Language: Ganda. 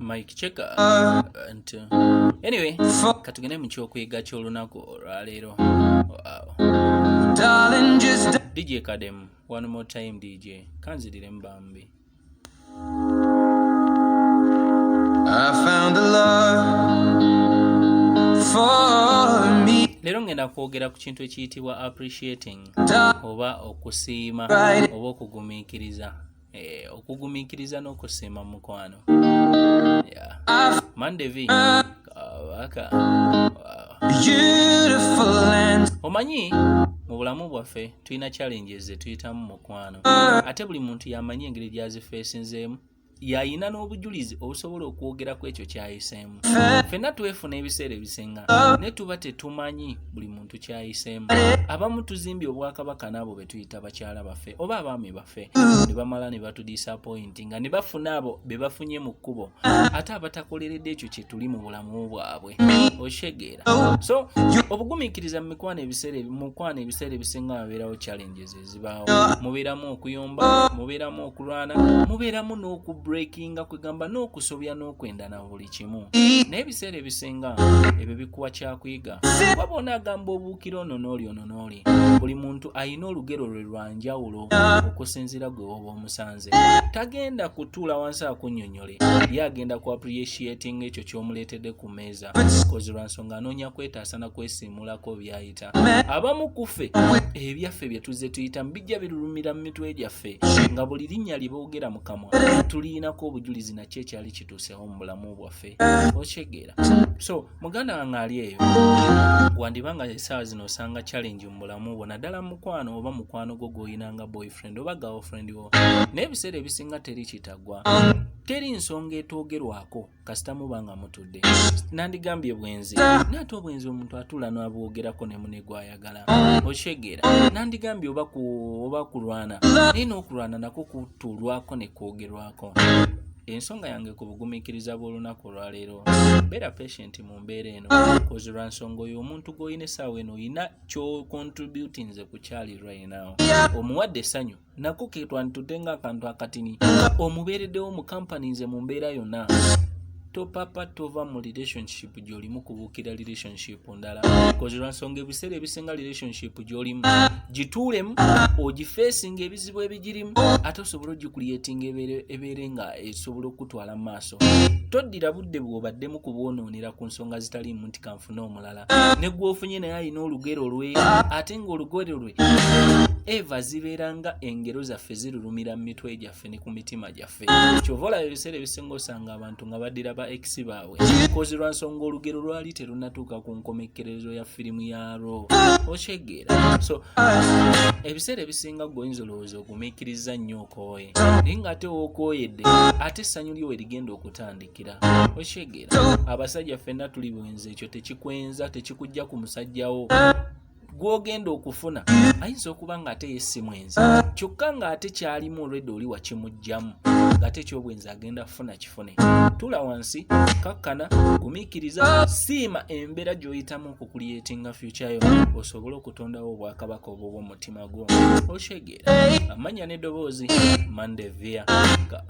Mike Cheka uh, nti anyway katugende mu kyokuyiga ky'olunaku olwaleero wow. DJ Kadem one more time DJ kanzirire mbambi I found a love for me leero ngenda kwogera ku kintu ekiyitibwa appreciating oba okusiima oba okugumiikiriza eh, okugumiikiriza n'okusiima mukwano mandevi kabaka omanyi mu bulamu bwaffe tulina challenges zetuyitamu mukwano ate buli muntu yamanyi engeri gyazifeesinzeemu yayina n'obujulizi obusobola okwogera ku ekyo kyayiseemu ffenna twefuna ebiseera ebisinga naye tuba tetumanyi buli muntu kyayiseemu abamu tuzimbye obwakabaka n'abo be tuyita bakyala baffe oba abaami baffe ne bamala ne batudisapointi nga ne bafuna abo be bafunye mu kkubo ate abatakoleredde ekyo kye tuli mu bulamu bwabwe okitegeera so obugumiikiriza mu mikwano ebiseera mu mukwano ebiseera ebisinga wabeerawo challenges zibaawo mubeeramu okuyomba mubeeramu okulwana mubeeramu n'okubreakinga kwegamba n'okusobya n'okwenda na buli kimu naye ebiseera ebisinga ebyo bikuwa kyakuyiga kuba bona agamba obuukira ono n'oli ono n'oli buli muntu alina olugero lwe lwa njawulo okusinziira gwe woba omusanze tagenda kutuula wansi akunnyonnyole ye agenda ku appreciatinga ekyo ky'omuleetedde ku meeza kozi lwa nsonga anoonya kwetaasa na kwesiimulako byayi tuyita abamu kufe ebyaffe bye tuzze tuyitamu bijja birulumira mu mitwe gyaffe nga buli linnya lye boogera mu kamwa tuliyinako obujulizi nakyo ekyali kituuseho mu bulamu bwaffe okyegeera so muganda wange ali eyo wandiba nga esaawa zino osanga challenge mu bulamu bwo naddala mukwano oba mukwano gwo gwolina nga boyfriend oba girlfriend wo naye ebiseera ebisinga teri kitagwa teri nsonga etwogerwako kasita muba nga mutudde nandigambye bwenzi naye ate obwenzi omuntu atula nabwogerako ne mune gwayagala okitegeera nandigambye oba oba kulwana naye n'okulwana nako kutulwako ne kwogerwako ensonga yange ku bugumiikiriza bw'olunaku olwaleero beera patient mu mbeera eno kozi lwa nsonga oyo omuntu gw'olina essaawa eno olina kyokontributinze ku kyali right now omuwadde essanyu nako ketwanditudde ng'akantu akatini omubeereddewo mu kampani nze mu mbeera yonna topapa tova mu relationship gyolimu kubuukira relationship ndala kozirwansonga ebiseera ebisinga relationship gyolimu gituulemu ogifeesinga ebizibu ebigirimu ate osobola ogikuliyetinga ebeere nga esobola okukutwala mu maaso toddira budde bwobadde mu kubwonoonera ku nsonga zitaliimu nti kanfuna omulala ne gwofunye naye alina olugero lwe ate ng'olugero lwe eva zibeera nga engero zaffe zirulumira mu mitwe gyaffe ne ku mitima gyaffe kyova olaba ebiseera ebisinga osanga abantu nga baddira ba ex baabwe kozi lwa nsonga olugero lwali terunatuuka ku nkomekkerezo ya firimu yaalwo okyegeera so ebiseera ebisinga gweoyinza olowooza ogumiikiriza nnyo okooye naye ng'ate wookooyedde ate essanyu lyo we rigenda okutandika kira oshegera abasajja fenna tuli bwenzi ekyo tekikwenza tekikujja ku musajjawo gwogenda okufuna ayinza okuba nga ate yesimwenzi kyokka nga ate kyalimu olwedde oli wakimugjamu ngate ekyobwenzi agenda kufuna kifune tula wansi kakkana gumikiriza siima embeera gyoyitamu okukulyetinga fyukyayo osobole okutondawo obwakabaka obwo bwomutima gwo oshegera amanya nedoboozi mandevia